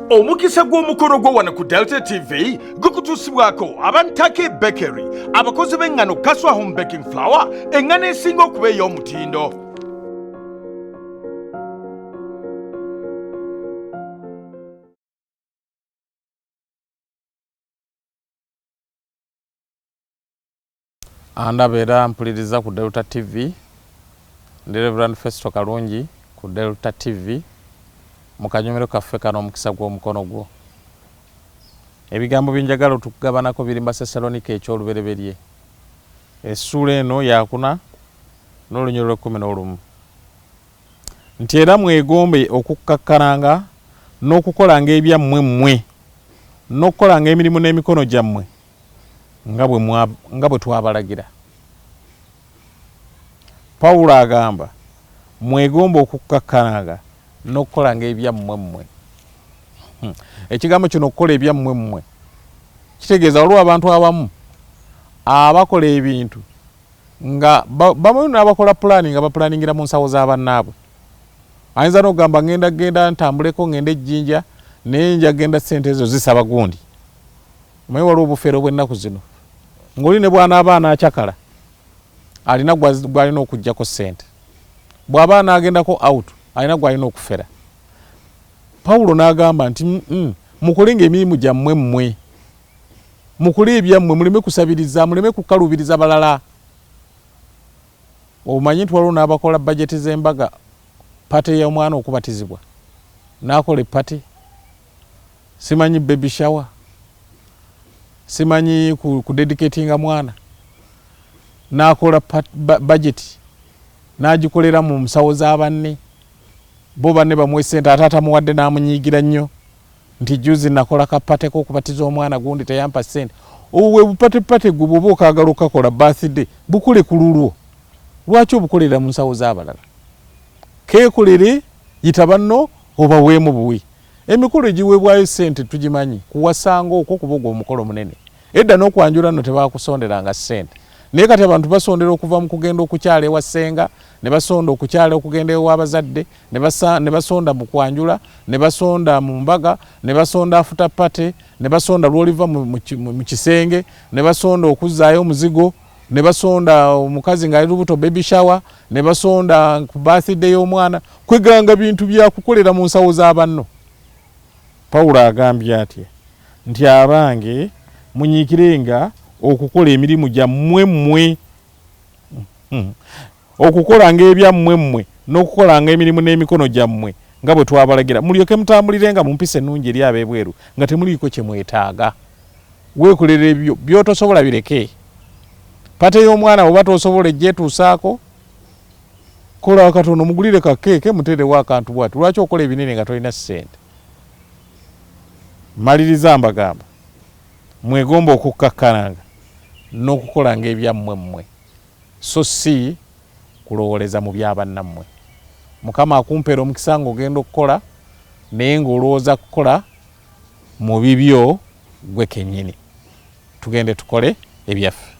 omukisa gw'omukolo gwo wano ku delta tv gukutuusibwako abantake bakery abakozi b'eŋŋano kaswa home baking flower eŋŋano esinga okuba ey'omutindo Andaba era ampuliriza ku Delta TV. Ndi Reverend Festo Kalungi ku Delta TV mu kanyomero kaffe kano Omukisa gw'Omukono Gwo. Ebigambo bye njagala otukugabanako biri mu Basessaloniika eky'olubereberye essuula eno yakuna n'olunyiriro lw'ekkumi n'olumu nti era mwegombe okukkakkananga n'okukolanga ebyammwe mmwe n'okukolanga emirimu n'emikono gyammwe nga bwe twabalagira. Pawulo agamba, Mwegombe okukkakkananga n'okukolanga ebyammwe mmwe. Hmm. Ekigambo kino okukola ebyammwe mmwe kitegeeza waliwo abantu abamu abakola ebintu nga bamu n'abakola pulaani nga bapulaaningira mu nsawo za bannaabwe. Ayinza n'okugamba ngenda genda ntambuleko ngende ejjinja naye nja genda ssente ezo zisaba gundi. Omanyi waliwo obufere obw'ennaku zino ng'oli ne bw'anaaba anaacakala alina gw'alina okuggyako ssente, bw'aba anaagendako out alina gw'alina okufera. Pawulo n'agamba nti mukole ng'emirimu gyammwe mmwe, mukole ebyammwe, muleme kusabiriza, muleme kukaluubiriza balala. Omanyi nti waliwo n'abakola bajeti z'embaga, pate y'omwana okubatizibwa, n'akola eppate. Simanyi baby shower, simanyi ku, ku dedicatinga mwana, nakola budget nagikolera mu musawo za banne bo banne bamuwe sente ate atamuwadde namunyiigira nnyo nti juzi nakola kapate kokubatiza omwana gundi teyampa sente obwe bupatepate gwe bwoba okagala okakola birthday bukole ku lulwo lwaki obukolera mu nsawo z'abalala kekolere yita banno obaweemu buwi Emikolo egiweebwayo ssente tugimanyi, kuwasa ng'okwo kuba ogwo omukolo munene. Edda n'okwanjula nno tebaakusonderanga ssente. Naye kati abantu basondera okuva mu kugenda okukyala ewa ssenga, ne basonda okukyala okugenda ewa bazadde, ne basonda mu kwanjula, ne basonda mu mbaga, ne basonda after party, ne basonda lw'oliva mu kisenge, ne basonda okuzzaayo omuzigo. ne basonda omukazi nga ali lubuto baby shower ne basonda ku birthday y'omwana kweganga bintu bya kukolera mu nsawo za banno pawulo agambye atya nti abange munyiikirenga okukola emirimu gyammwe mmwe hmm. Okukolanga ebyammwe mmwe, n'okukolanga emirimu n'emikono gyammwe nga bwe twabalagira, mulyoke mutambulirenga mu mpisa ennungi eri ab'ebweru, nga temuliiko kye mwetaaga. Weekolere ebyo by'otosobola bireke. Ppate y'omwana bw'oba t'osobola ejja etuusaako. Kola akatono, mugulire ka kkeeke, muteerewo akantu bw'ati. Lwaki okola ebinene nga tolina ssente? Mmaliriza mbagamba, mwegombe okukkakkananga n'okukolanga ebyammwe mmwe. so si kulowoleza mu bya bannammwe. Mukama akumpere omukisa nga ogenda okukola naye nga olowoza kukola mu bibyo gwe kenyini. Tugende tukole ebyaffe.